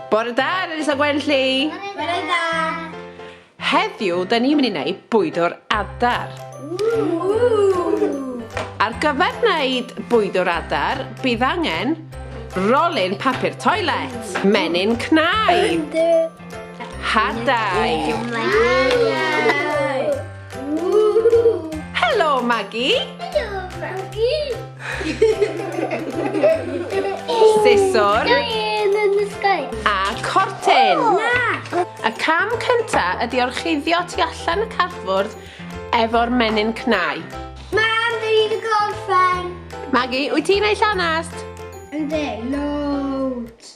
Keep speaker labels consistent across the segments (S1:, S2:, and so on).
S1: Bore da, Elisa Gwenlli! Bore da! Heddiw, da ni'n mynd i wneud bwyd o'r adar. Ar gyfer wneud bwyd o'r adar, bydd angen rolyn papur toilet, menyn cnau, hadau, Helo, Maggie! Helo, Maggie! Siswr. Gael yn y sgau. A cortyn. Oh, na! Y cam cynta ydi orchuddio tu allan y carfwrdd efo'r menyn cnau. Mam, dwi wedi gorffen. Maggie, wyt ti'n ei llanast? Ynddi, loads.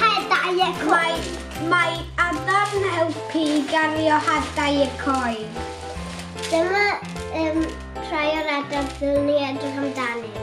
S1: Hadau y coed. Mae, mae adar yn helpu i gario hadau y coed. Dyma um, rhai o'r adar ddylwn ni edrych amdanynt.